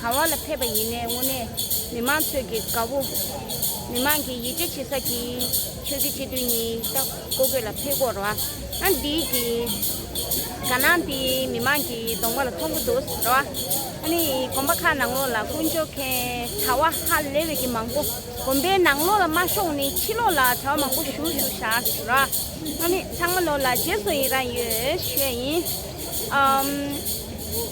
ག་བ་ལ་ཕེབས་པ་ཡིན་ནའི་དངོས་གནས་མི་མང་ཚོད་ཀྱི་དགའ་བོ། མི་མང་གི་ཡིད་ཆེ་བྱེད་ས་ཀྱི་ཆོས་ཀྱི་སྤྱི་དོན་ཉིད་ལྟ་སྐོ་དགོས་ལ་ཕེ་སྐོར་བ་ཨང་འདི་གི་དགའ་སྣང་དེ་མི་མང་གི་གདོང་པ་ལ་མཐོང་གི་འདུག་ཟེར་བ་ཨ་ནི་གོམ་པ་ཁ་ནང་ལོག་ལ་དཀོན་མཆོག་མཁན་གྲ་བ་ཧ་ལེ་བས་ཀྱི་མང་པོ་གོམ་པའི་ནང་ལོག་ལ་མ་ཤོང་ནི་ཕྱི་ལོག་ལ་གྲ་བ་མང་པོ་ཞུ་ཞུ་བཞག་ཟེར་བ་ཨ་ནི་ཚང་མ་ལོག་ལ་རྗེས་སུ་ཡི་རང་ཡོད་ཤོས་ཡིན་ཨམ།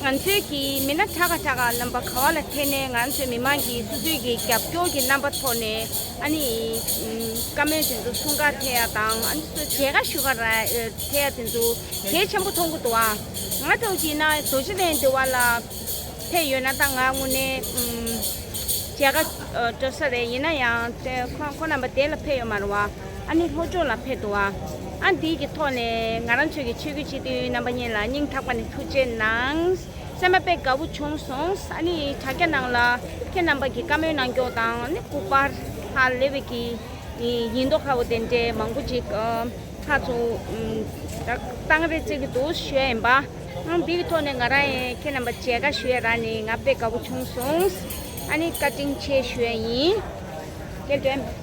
ང་ཚོའི་གི་མི་སྣ་ཁྲ་ག་ཁྲ་ག་རྣམ་པ་ག་བ་ལ་ཐད་ནས་ང་ཚོའི་མི་མང་གི་སུ་སུའི་གི་རྒྱབ་སྐྱོར་གི་རྣམ་པ་ཐོག་ནས་ཨ་ནི་བཀའ་མོལ་དེ་ཚོ་གསུང་ག་ཐད་ཡ་དང་ཨ་ནི་སུ་བྱས་ག་ཞུ་ག་ར་ཐད་ཡ་དེ་ཚོ་གལ་ཆེན་པོ་ཐོག་གུ་འདུག་ཨང་ང་ཐོག་གི་ན་རྡོ་རྗེ་གདན་དེ་བ་ལ་ཕེབས་ཡོད་ན་ད་ང་དངོས་ནས་བྱས་ག་སྤྲོད་ས་རེད་ཡིན་ན་ཡང་ཁོ་རྣམ་པ་དེ་ལ་ཕེབས་ཡོད་མ་རུང་བ། ཨ་ནི་ལྷོ་ཕྱོགས་ལ་ཕེབས་འདུག་ཨ་འདིའི་གི་ཐོག་ནས་ང་རང་ཚོའི་གི་ཆོས་རྒྱུད་སྤྱི་མཐུན་རྣམ་པ་གཉིས་ལ་སྙིང་ཐག་པ་ནས་ཐུགས་རྗེ་གནང། སེམས་པ་དཔེ་དགའ་བོ་བྱུང་སོང་ཨ་ནི་དྲ་རྒྱ་ནང་ལ་ཁྱེད་རྣམ་པ་གི་བཀའ་མོལ་གནང་སྐྱོང་དང་ནི་སྐུ་པར་ཧ་ལེ་བའི་གི་ཡིན་མདོག་ཁ་བོ་དེ་འདྲས་མང་པོ་ཅིག་ཁ་ཚུ་བཏང་རེ་བྱེད་གི་འདུག་ཞུ་ཡ་ཡིན་པ་ཨ་འདི་གི་ཐོག་ནས་ང་རང་ཡི་ཁྱེད་རྣམ་པ་མཇལ་ཁ་ཞུ་ཡ་རང་ནི་ང་དཔེ་དགའ་བོ་བྱུང་སོང་ཨ་ནི་བཀའ་དྲིན་ཆེ་ཞུ་ཡ་ཡིན། དེ་འདྲས།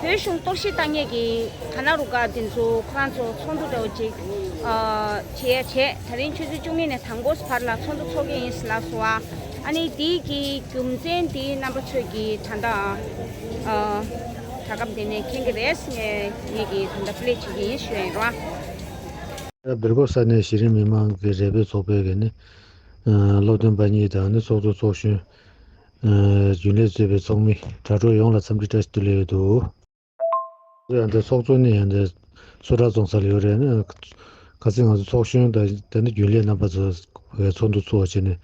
བོད་གཞུང་གཏོར་བཤིག་བཏང་ཉེས་ཀྱི་དར་ནག་རུ་ཁག་འདི་ཚོ་ཁོ་རང་ཚོ་ཚོགས་འདུ་གྲོལ་ཅིག་བྱེད་ཡ་བྱེད་ད་རིང་ཆུ་ཚོད་བཅུ་གཉིས་ནས་དང་པོ་བར་ལ་ཚོགས་འདུ་འཚོགས་ཀྱི་ཡིན་ཟེར་ལགས་སོ་ཨ་ཨ་ནི་འདི་གི་རྒྱུ་མཚན་འདི་རྣམ་པ་ཚོད་ཀྱི་ད་ལྟ་ཨ་ཨ་ད་སྐབས་འདི་ནས་མཁྱེན་གྱི་རེད་ངས་ངེད་ཀྱི་ད་ལྟ play བྱེད་ཀྱི་ཡིན་ཞུ་ཡ་ཡིན་རོ། ད་བེར་ཀོབ་ས་གནས་གཞི་རིམ་མི་མང་གི་རེ་འབོད་ཚོགས་པའི་གི་ནི་སློབ་སྟོན་པ་གཉིས་དང་ནི་ཚོགས་འདུ་ཚོགས་ཞུན་རྒྱུན་ལས་གཙོས་པའི་ཚོགས་མི་དྲ་གྲོགས་ཡོངས་ལ་འཚམས་འདྲི་བཀྲ་ཤིས་བདེ་ལེགས་ཡོད་དོ། ཡང་འདི་ཚོགས་གཙོ་ནི་ཡང་འདི་བསུ་གྲྭ་བཙོང་ས་ལ་ཡོད་རེད་ན། ག་ཚིག་ང་ཚོ་ཚོགས་གཞོན་དང་དེ་ནི་རྒྱུན་ལས་རྣམ་པ་ཚོ་བའི་ཚོགས་འདུ་གཙོ་བྱས་ནས་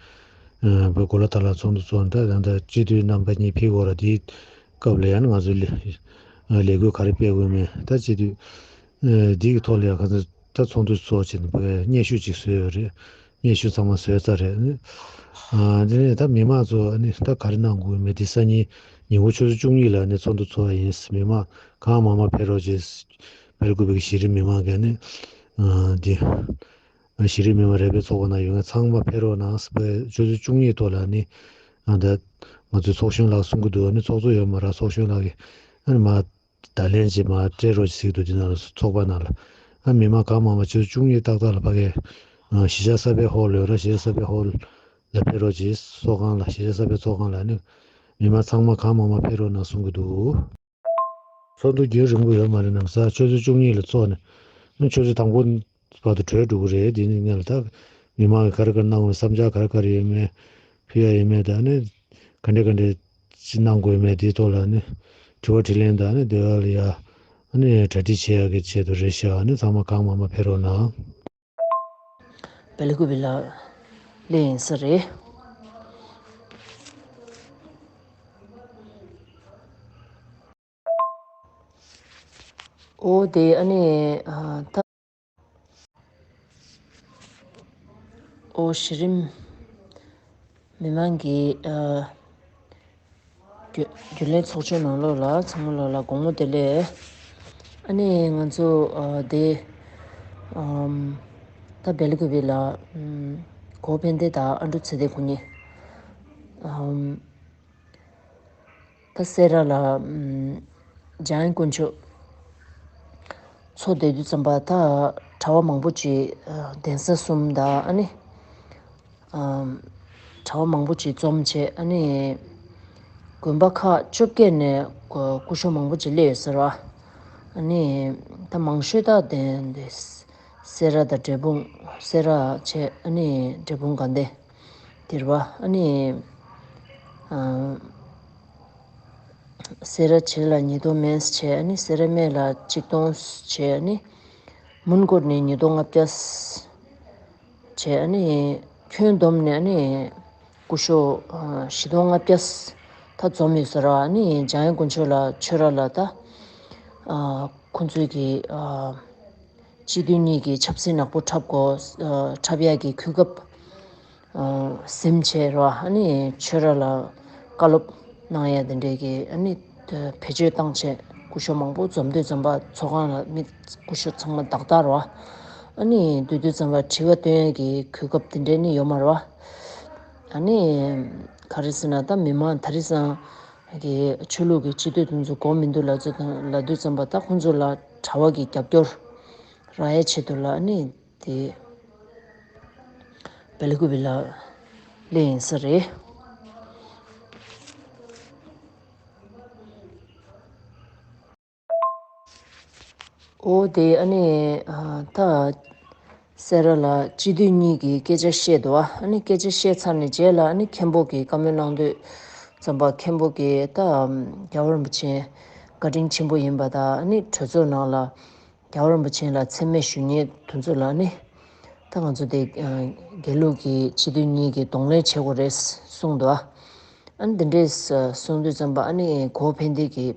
བོད་གོ་ལ་དར་ལ་ཚོགས་འདུ་གཙོ་འདི་ཡང་འདི་སྤྱི་འཐུས་རྣམ་པ་གཉིས་ཕེབས་འོག་ལ་འདིའི་སྐབས་ལ་ཡང་ན་ང་ཚོ་ལས་འགུལ་ག་རེ་སྤེལ་དགོས་མིན་ད་སྤྱི་འཐུས་འདི་གི་ཐོག་ལ་ཡང་ག་ཚོད་ད་ཚོགས་འདུ་གཙོ་བྱས་ནས་བོད་སྙན་ཞུ་ཅིག་བཟོས་ཡོད་རེད་སྙན་ཞུ་ཚང་མ་བཟོས་ཚར་རེད། དེ་ནས་ད་མི་མང་ཚོ་ད་ག་རེ་གནང་དགོས་མེད་དེ་སང་ཉིན་ཉིན་གུང་ཆུ་ཚོད་བཅུ་གཉིས་ལ་ཚོགས་འདུ་ཚོགས་ཡིན་མི་མང་གང་མང་མང་ཕེབས་རོགས་ཅེས་ཕེབས་དགོས་པའི་གཞི་རིམ་མི་མང་གི་དེ་གཞི་རིམ་མི་མང་རེ་འབོད་ཚོགས་པ་ན་ཡོད་མཁན་ཚང་མ་ཕེབས་རོགས་གནང་ཆུ་ཚོད་བཅུ་གཉིས་ཐོག་ལ་ད་ང་ཚོའི་ཚོགས་གཞོན་ལགས་གསུང་གི་འདུག་ཚོགས་གཙོ་ཡོད་མ་ར་ཚོགས་གཞོན་ལགས་ཀྱི་མ་བརྡ་ལན་གཅིག་མ་སྤྲད་རོགས་ཞིག་འདུག་འདི་ན་ཚོགས་པ་ནང་ལ་ཨ་མི་མ་གང་མང་བ་ཆོས་བཅུ་གཉིས་ཏག་ཏག་ལ་ཕ་གས། གཞིས་ཆགས་གསར་པའི་ཧོར་ལོས་ར་གཞིས་གསར་པའི་ཧོར་ལ་ཕེབས་རོགས་ཀྱིས་ཚོགས་ཁང་ལ་གཞིས་ཆགས་གསར་པའི་ཚོགས་ཁང་ལ་ནི་མི་མ་ཚང་མ་གང་མང་མ་ཕེབས་རོགས་ནང་གསུང་གི་འདུག། ཚོགས་འདུ་བརྒྱུད་རིང་པོ་ཡོད་མ་རེད་ནམ་ས་ཆོས་བཅུ་གཉིས་ལ་ཚོགས་ནས་ཆོས་བཅུ་དང་པོ་བར་དུ་གྲོས་གྲུག་རེད་དེ་ནི་གནས་ལ་ད་མི་མང་གི་གར་གར་གནང་བའི་བསམ་འཆར་གར་གར་ཡོད་མེད་ཕུལ་ཡ་ཡོད་མེད་དང་ནི་ག་འདྲས་ག་འདྲས་ཅི་གནང་དགོས་མེད་དེའི་ཐོག་ལ་ནི་དྲི་བ་དྲི་ལན་དང་ནི་དེ་བ་ལ་ཡ་ནི་གྲ་སྒྲིག་བྱེད་ཡ་གི་ཆེད་དུ་རེད་ཤག་ནི་ཚང་མ་གང་མང་མ་ཕེ་རོག་ན། བལ་གོ་བི་ལགས། ལེ་ཡིན་ས་རེད། འོ་དེ་ཨ་ནི་ད། འོ་གཞི་རིམ་མི་མང་གི་རྒྱུན་ལས་ཚོགས་ཆུང་ནང་ལོགས་ལ་ཚང་མ་ལོགས་ལ་དགོང་མོ་དེ་ལས། ཨ་ནི་ང་ཚོ་དེ། ད་བལ་གོ་བི་ལ། གོ་ཕན་བདེ་དང་ཨ་འབྲུ་ཚེ་བདེ་ཁོ་གཉིས། ད་སེ་ར་ལ། འཇང་དཀོན་མཆོག། ཚོ་དད་དུས་ཙམ་པ་ད་གྲྭ་བ་མང་པོ་བྱེད་གདན་ས་གསུམ་ད་ཨ་ནི། གྲྭ་བ་མང་པོ་བྱེད་འཛོམས་བྱེད་ཨ་ནི། དགོན་པ་ཁག་བཅོ་བརྒྱད་ནས་སྐུ་ཞོ་མང་པོ་བྱེད་སླེ་ཡོད་ཟེར་བ། ཨ་ནི། ད་མང་ཤོས་ད་གདན་སེ་ར་ད་འབྲས་སྤུངས་སེ་ར་བྱེད་ཨ་ནི་འབྲས་སྤུངས་དགའ་ལྡན། དེར་བ་ཨ་ནི། སེ་ར་བྱེད་ལ་ཉིས་སྟོང་མནྜལ་བྱས་ཨ་ནི་སེ་ར་སྨད་ལ་གཅིག་སྟོང་བྱས་ཨ་ནི། མུན་སྐོར་ནས་ཉིས་སྟོང་ལྔ་བརྒྱ། བྱས་ཨ་ནི། ཁྱོན་བསྡོམས་ནས་ཨ་ནི། སྐུ་ཤོག་བཞི་སྟོང་ལྔ་བརྒྱ། ཐ་འཛོམས་ཡོད་ས་ར་བ་ཨ་ནི་འཇང་ཡེ་དགོན་ཆོས་ལ་ཆོས་ར་ལ་ད། ཁོ་ཚོའི་གི། སྤྱི་མཐུན་གཉིས་ཀྱི་ཆབ་སྲིད་ནག་པོ་འཁྲབ་གོ། འཁྲབ་ཡག་གི་གུས་སྐབས། སེམས་ཆེ་ར་ཨ་ནི་ཆོས་ར་ལ་བཀའ་སློབ་གནང་ཡ་དེ་འདྲས་ཀྱི་ཨ་ནི་བེད་སྤྱོད་བཏང་ཆེ་སྐུ་ཞོ་མང་པོ་འཛོམས་སྡོད་འཛོམས་པ་ཚོགས་ཁང་ལ་མི་སྐུ་ཞོ་ཚང་མ་དག་དག་ར་ཨ་ནི་སྡོད་སྡོད་འཛོམས་པ་དྲི་བ་བཏོན་ཡ་གི་གུས་སྐབས་དེ་འདྲས་ནི་ཡོད་མ་ར་ཨ་ནི་ག་རེ་ཟེར་ན་ད་མི་མང་ད་རི་སང་གི་ཆོས་ལུགས་ཀྱི་སྤྱི་སྡོད་དེ་ཚོ་གོ་མི་འདུག་ལ་ཚོ་དང་ལ་སྡོད་འཛོམས་པ་ད་ཁོང་ཚོ་ལ། གྲྭ་བ་གི་རྒྱབ་སྐྱོར་རང་ཡལ་ཆེད་དུ་ལ་ནི་དེ་བེ་ལི་ཀུ་བི་ལ་ལི་ཡིན་ས་རེད། འོ་དེ་ཨ་ནི་ད། སེ་ར་ལགས་སྤྱི་འཐུས་གཉིས་ཀྱིས་སྐད་ཆ་བཤད་འདུག་ཨ་ནི་སྐད་ཆ་བཤད་ཚར་ནས་རྗེས་ལ་ཨ་ནི་མཁན་པོ་གིས་བཀའ་མོལ་གནང་དུས་རྩོམ་པ་མཁན་པོ་གིས་ད་རྒྱ་བོ་རིན་པོ་ཆེན་བཀའ་དྲིན་ཆེན་པོ་ཡིན་པ་དང་ཨ་ནི་གྲོས་ཚོགས་ནང་ལ་རྒྱ་བོ་རིན་པོ་ཆེན་ལ་མཚན་སྨད་ཞུ་ཉེས་དོན་ཚུལ་ཨ་ནི་ད་ང་ཚོ་དེ་རྒྱལ་ལུགས་ཀྱི་སྤྱི་འཐུས་གཉིས་ཀྱིས་གདོང་ལེན་བྱེད་དགོས་རེད་གསུངས་འདུག་ཨ་ནི་འདི་འདྲས་གསུངས་དུས་རྩོམ་པ་ཨ་ནི་གོ་བོ་ཕན་བདེ་གིས།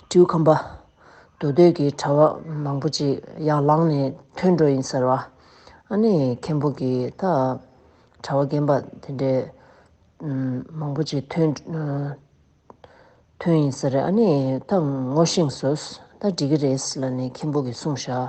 སྤྲེའུ་ཁམས་པ། དུ་སྡོད་ཀྱི་གྲྭ་བ་མང་པོ་ཅིག་ཡར་ལངས་ནས་ཐོན་འགྲོ་ཡིན་ཟེར་བ། ཨ་ནི་མཁན་པོ་གྱི་ད། གྲྭ་བ་རྒན་པ་དེ་འདྲས། མང་པོ་ཅིག་ཐོན། ཐོན་ཡིན་ཟེར་རེད་ཨ་ནི་ད་ངོ་ཤེས་སོ། ད་འགྲིག་གི་རེད་ལ་ནི་མཁན་པོ་གྱི་གསུངས་བཞག།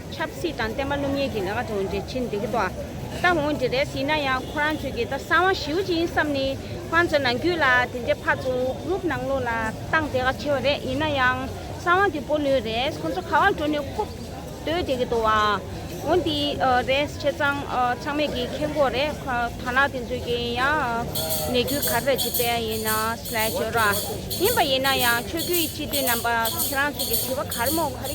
ཆབ་སྲིད་དང་བསྟན་པ་སློབ་གཉེར་གྱི་ལས་ཀ་དང་འབྲེལ་ཕྱིན་འདི་གི་ཐོག་ད་འོང་འདི་རེས་ཡིན་ན་ཡང་ཁོ་རང་ཚོས་ཀྱི་ད་གསང་བ་ཞིའུ་ཅིན་བསམ་ནི་ཁོ་རང་ཚོའི་ནང་རྒྱུད་ལ་དེ་འདྲའི་ཕར་ཚུར་འུབ་རུབ་གནང་ལུགས་ལ་སྟངས་དེ་ག་ཆེ་བ་རེད་ཡིན་ན་ཡང་གསང་བ་འདི་པོ་ལོས་རེས་ཁོ་ཚོ་ག་བར་འགྲོ་ནི་ཁུབ་སྡོད་དེ་གི་འདུག་བ་འོ་འདི་རེས་ཆེ་ཚང་ཚང་མས་ཀྱི་ཁེ་འགོག་རེད་ཐ་ན་དེ་ཚོས་ཀྱི་ཡང་ནས་རྒྱུད་ག་རེ་བྱེད་པའི་ཡིན་ན་སླད་བྱོས་ར་ཡིན་པ་ཡིན་ན་ཡང་ཆོས་རྒྱུད་ཡི་སྤྱི་འཐུས་རྣམ་པ་ཁྱེད་རང་ཚོས་ཀྱི་དྲི་བ་ག་རེ་མོ་ག་རེ།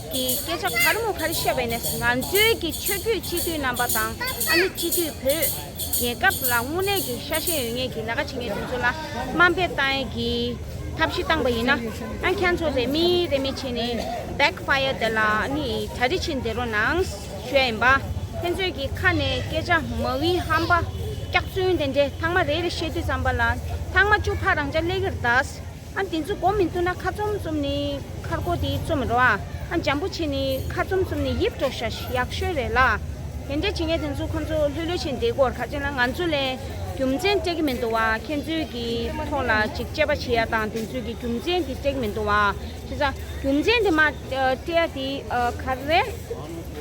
གི་སྐད་ཆ་གར་མོ་གར་བཤད་པས་ནས་ང་ཚོའི་གི་ཆོས་རྒྱུད་སྤྱི་འཐུས་རྣམ་པ་དང་ཨ་ནི་སྤྱི་འཐུས་བོད་རྒྱལ་ཁབ་ལ་དངོས་གནས་གི་ཤ་ཞེན་ཡོད་ངེས་གི་ལས་ཀ་བྱེད་ངེས་དེ་ཚོ་ལ་དམའ་འབེབས་བཏང་ཡས་གི་ཐབས་ཤིག་བཏང་པ་ཡིན་ན་ཨ་ཁྱེད་ཚོ་རེ་མི་རེ་མི་བྱེད་ནས back fire དེ་ལ་ཨ་ནི་གྲ་རི་བྱེད་འདི་རོ་ནང་ཞོལ་ཡིན་པ་ཕན་ཚོད་གི་ཁ་ནས་སྐད་ཆ་མ་བི་ཧམ་པ་སྐྱག་རྫུན་དེ་འདྲེ་ཐང་མ་རེ་རེ་བཤད་དུས་ཙམ་པ་ལ་ཐང་མ་བཅུ་ཕ་རང་ཅག་ལས་གིར་དྭ། ཨ་འདི་ཚོ་མགོ་མི་བཏུ་ན་ཁ་བཙུམ་བཙུམ་ནི་ཁར་མགོ་དེ་བཙུམ་མི་རུང་ཨ་ཨ་འཇམ་པོ་བྱེད་ནི་ཁ་བཙུམ་བཙུམ་ནི་ཡིབ་འགྲོ་ཤ་ཤ་ཡག་ཤོས་རེད་ལ། དེ་འདྲ་བྱེད་མཁན་དེ་ཚོ་ཁོ་ཚོ་ལྷོད་ལྷོད་བྱེད་འདི་གོར་ཁ་ཅན་ལ་ང་ཚོ་ལས་རྒྱུ་མཚན་སྤྲད་ཀྱི་མི་འདུག་བ་ཁྱེད་ཚོའི་གི་ཐོག་ལ་ཅིག་དཔྱད་པ་བྱེད་ཡ་དང་དེ་ཚོའི་གི་རྒྱུ་མཚན་དེ་སྤྲད་ཀྱི་མི་འདུག་བ་བྱས་ཙང་རྒྱུ་མཚན་དེ་མ་སྤྲད་ཡ་དེ་ག་རེ་རེད།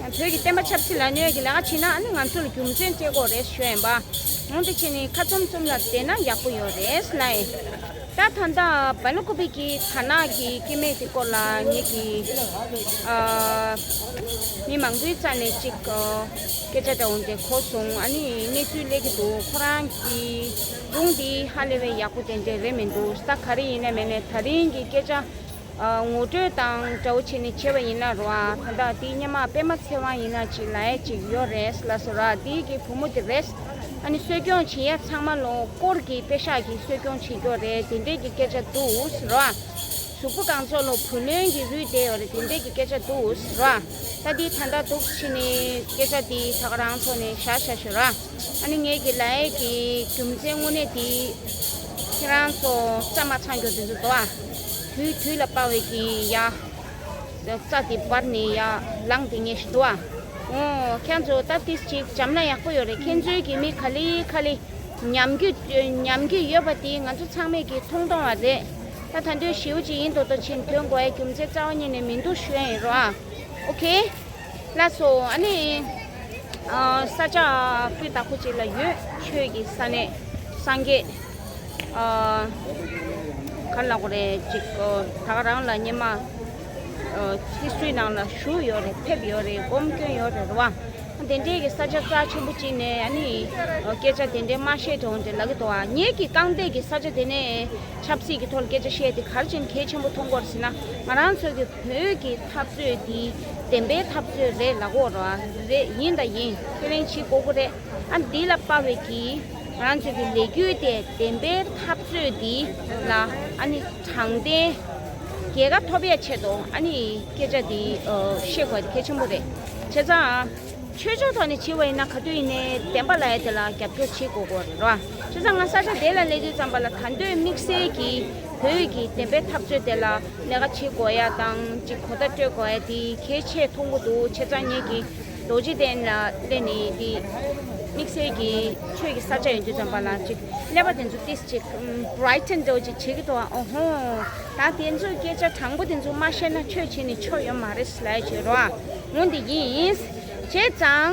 བོད་ཀྱི་བསྟན་པ་ཆབ་སྲིད་ལ་གནོད་ཀྱི་ལས་ཀ་བྱེད་ན་ཨ་ནི་ང་ཚོ་ལ་རྒྱུ་མཚན་སྤྲད་དགོས་རེད་ཞོད་ཡིན་པ། འོང་དེ་བྱེད་ནི་ཁ་བཙུམ་བཙུམ་ལ་བསྡད་ན་ཡག་པོ་ཡོད་རེད་སླ་ཨེ། ད་ད་ལྟ་བལ་ལོ་ཀོ་བི་ཀི་དར་ནག་གི་སྐྱེ་མེད་དེ་སྐོར་ལ་ངེད་ཀྱི་མི་མང་པོའི་རྩ་ནས་ཅིག་སྐད་ཆ་འདྲ་བོ་འདྲེ་གོ་སོང་ཨ་ནི་གནས་ཚུལ་གླེ་གི་འདུག་ཁོ་རང་གི་སྒྲུང་འདི་ཧ་ལེ་བས་ཡག་པོ་དེ་འདྲས་རེད་མི་འདུག་ས་ག་རེ་ཡིན་ནས་མེད་ནས་ད་རིང་གི་སྐད་ཆ་ངོ་སྤྲོད་དང་དགྲ་བོ་བྱས་ནས་བྱས་པ་ཡིན་ལ་རོ་ཨ་ད་ལྟ་དེའི་སྙེ་མ་དཔེ་མ་འཚལ་བ་ཡིན་ན་ཅིག་ལ་ཡ་ཅིག་ཡོད་རེད་ལ་སོ་ར་དེའི་གི་བུ་མོ་དེ་རེད་ཨ་ནི་གསོད་སྐྱོང་བྱིན་ཡ་ཚང་མ་ལོ་སྐོར་གི་དཔེ་ཤག་གི་གསོད་སྐྱོང་བྱེད་རྒྱོ་རེད་དེ་འདྲས་གི་སྐད་ཆ་འདུག་རོ་ཨ་གཟུགས་པོ་གང་ཚོགས་ལོ་བུ་ལོན་གི་རུས་དེ་ཡོད་རེད་དེ་འདྲས་གི་སྐད་ཆ་འདུག་རོ་ཨ་ད་དེའི་ད་ད་འདུག་ཕྱི་ནི་སྐད་ཆ་དེའི་ད་ག་རང་ཚོ་ནས་བཞག་བཞག་ཞོ་ར། ཨ་ནི་ངེད་ཀྱི་ལའེ་ཡེ་གི་རྒྱུ་མཚན་དངོས་གནས་དེ་ཁྱེད་རང་ཚོ་རྩ་མ་ཆག་མགྱོགས་དེ་ཚོ་དོ་ཨ། དུས་དུས་ལ་སྤང་བའི་གི་ཡ། རྩ་དེ་བར་ནས་ཡ་ལངས་དེ་ངེས་ཤི་དོ་ཨ། ཨོ། ཁྱང་ཚོ་ད་ཏིས་ཅིག་བྱམས་ན་ཡག་པོ་ཡོད་རེད་ཁྱེད་ཚོའི་གི་མི་ག་ལི་ཁ་ལི་ཉམས་རྒྱུ་ཉམས་ཀྱི་ཡོད་པ་དེ་ང་ཚོ་ཚང་མས་གི་མཐོང་མཐོང་བ་རེད་ད་ད་འདོད་ཞིའུ་ཅིག་ཡིན་དོ་དོ་ཕྱིན་དོན་གོ་ཨའི་རྒྱུ་མཚན་རྩ་བ་ཉིད་ནས་མིན་འདུག་ཤོད་ཨེ་རོ་ཨ། ཨོ་ཁེ། ལ་སོགས་ཨ་ནི། ས་བཅད་སྤུས་དག་པོ་ཅིག་ལ་ཡོད། ཆོས་ཀྱི་ས་ནི་སངས་རྒྱས། གར་ལ་གོ་རེ་ཅིག། བདག་རང་ལ་ཉི་མ། ཚིགས་སུའི་ནང་ལ་བཞུགས་ཡོད་རེད་ཕེབས་ཡོད་རེད་སྒོམ་སྐྱོན་ཡོད་རེད་བ། དེ་འདྲའི་གི་ས་བཅད་རྩ་ཆེན་པོ་ཅིག་ནས་ཨ་ནི། སྐད་ཆ་དེ་འདྲའི་དམའ་བཤད་དེ་འོང་དེ་ལ་གི་དོ་ཨ། ངེད་ཀྱི་རྐང་སྟེགས་ཀྱི་ས་བཅད་དེ་ནས། ཆབ་སྲིད་ཀྱི་ཐོག་ལ་སྐད་ཆ་བཤད་དེ་གར་ཅན་གལ་ཆེན་པོ་མཐོང་སྐོར་ཟིན་ན། ང་རང་ཚོ་གི་བོད་ཀྱི། འཐབ་རྩོད་འདི་བདེན་པའི་འཐབ་རྩོད་རེད་ལགས་འོ་རེད་ཡིན་དང་ཡིན་ཁས་ལེན་བྱེད་དགོས་ཀྱི་རེད་ཨ་འདི་ལ་དཔའ་བོས་ཀྱིས་རང་ཚོད་ཀྱི་ལས་རྒྱུ་དེ་བདེན་པའི་འཐབ་རྩོད་འདི་ལ་ཨ་ནི་དྲང་བདེན་རྒྱལ་ཁ་ཐོབ་ཡ་ཆེད་དུ་ཨ་ནི་སྐད་ཆ་འདི་བཤད་དགོས་དེ་གལ་ཆེན་པོ་རེད་བྱས་ཙང་ཆོས་ཕྱོགས་ཐོག་ནས་བྱེད་པ་ཡིན་ན་ག་དུས་ཡིན་ནའི་བདེན་པ་ལ་ཡ་དེ་ལ་རྒྱབ་སྐྱོར་བྱེད་དགོས་ཀྱི་རེད་ར་བྱས་ཙང་ང་ས་ཆ་དེ་ལ་གནས་དུས་ཙམ་པ་ལ་ད་འདོད་དམིགས་བསལ་གྱིས་བོད་ཡིག་གི་བདེན་པའི་འཐབ་རྩོད་དེ་ལ་ལས་ཀ་བྱེད་དགོས་ཡ་དང་ཅིག་གོ་བརྡ་སྤྲོད་དགོས་ཡ་དེ་གལ་ཆེ་མཐོང་གི་འདུག་ཆེ་ཚང་ངེད་ཀྱི་རྡོ་རྗེ་གདན་ལ་སླེབས་ནས་དེ་དམིགས་བསལ་གྱི་ཆོས་ཀྱི་ས་ཆ་ཡོང་རྒྱུ་ཙམ་པ་ལ་ཅིག་སླེབས་པ་དེ་ཚོ་ཏིས་ཅིག Brighton དུ་ཅིག་བྱེད་ཀྱི་འདུག་ཨོ་ཧོ་ད་དེ་ཚོའི་སྐད་ཆ་དྲང་པོ་དེ་ཚོ་མ་བཤད་ན་ཆོས་བྱེད་ནས་ཆོ་ཡོད་མ་རེད་སླད་ཅིག་རོ་ངོ་འདི་ཡིན། བྱས་ཙང།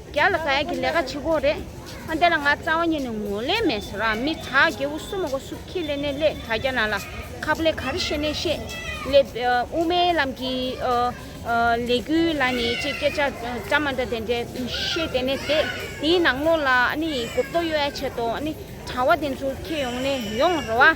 རྒྱ་ལ་ག་ཡ་གི་ལས་ཀ་བྱེད་དགོས་རེད་ཨ་འདི་ལ་ང་རྩ་བ་ཉིད་ནས་ངོ་ལེན་མེད་ཟེར་ར་མི་དྲ་རྒྱལ་བོ་སུ་མ་གོ་སུ་ཁྱི་ལེ་ནེ་ལེ་དྲ་རྒྱ་ན་ལ་ཁ་པ་ལེ་ག་རེ་ཤེས་ནེ་ཤེས་ལེ་དབུ་མའི་ལམ་གི་ལས་གུ་ལ་ནི་ཅེས་སྐད་ཆ་འདྲ་མ་འདྲ་དེ་འདྲ་བཤད་དེ་ནས་དེ་དེའི་ནང་ལོགས་ལ་ཨ་ནི་གོ་བསྡུར་ཡོད་ཡ་བྱེད་དོ་ཨ་ནི་དྲ་བ་དེ་ཚོ་ཁྱེད་ཡོང་ནས་ཡོང་ར་བ།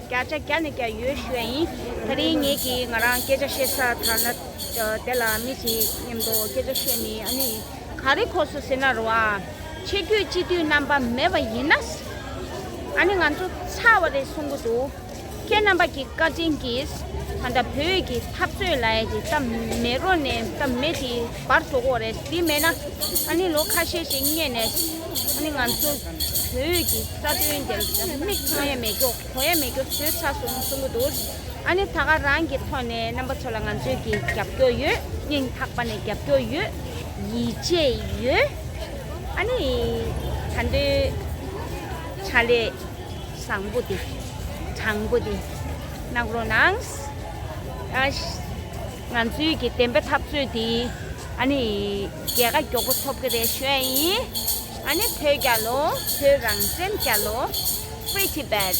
བརྒྱ་ཆ་བརྒྱ་ནས་བརྒྱ་ཡོད་ཞུ་བ་ཡིན། ད་རིང་ངེད་ཀྱིས་ང་རང་སྐད་ཆ་བཤད་ས་དར་ན། དེ་ལ་མི་ཞིག་སྙམ་དུ་སྐད་ཆ་བཤད་ནི་ཨ་ནི་ག་རེ་གོ་སོ་ཟེར་ན་རུང་བ། ཆེ་བསྐྱོད་སྤྱི་འཐུས་རྣམ་པ་མེད་པ་ཡིན་ན། ཨ་ནི་ང་ཚོ་ཚར་བ་རེད་གསུང་གི་འདུག་ཁྱེད་རྣམ་པ་ཀྱི་བཀའ་དྲིན་གྱིས། ད་ལྟ་བོད་ཀྱི་འཐབ་རྩོད་ལ་ཡི་གེ་གཏམ་མེད་རོ་ནས་གཏམ་མེད་དེ། པར་གྲོགས་པོ་རེད་དེ་མེད་ན་ཨ་ནི་ལོ་ཁ་ཤས་ཤིག་རྙེད་ནས་ཨ་ནི་ང་ཚོ་བོད་ཡུལ་གྱི་རྩ་དོན་འདིར་མིག་ཚང་ཡས་མས་ཀྱོ་གོ་ཡས་མས་ཀྱོ་བཟོས་ཚར་སོང་གསུང་གི་འདུག་ཨ་ནི་ད་ག་རང་གི་ཐོག་ནས་རྣམ་པ་ཚོ་ལ་ང་ཚོས་ཀྱི་རྒྱབ་སྐྱོ་ཡོད་སྙིང་ཐག་པ་ནས་རྒྱབ་སྐྱོ་ཡོད་ཡིད་ཆེས་ཡོད་ཨ་ནི་ད་འདོད་ཆ་ལས་བཟང་པོ་དེ་དྲང་པོ་དེ་གནང་རོགས་གནང། ང་ཚོའི་གི་བདེན་པའི་འཐབ་རྩོད་འདི་ཨ་ནི་རྒྱལ་ཁ་མགྱོགས་པོ་ཐོབ་གི་རེད་བཞོན་ཡིན་ཨ་ནི་བོད་རྒྱ་ལོ་བོད་རང་བཙན་རྒྱ་ལོ Free Tibet།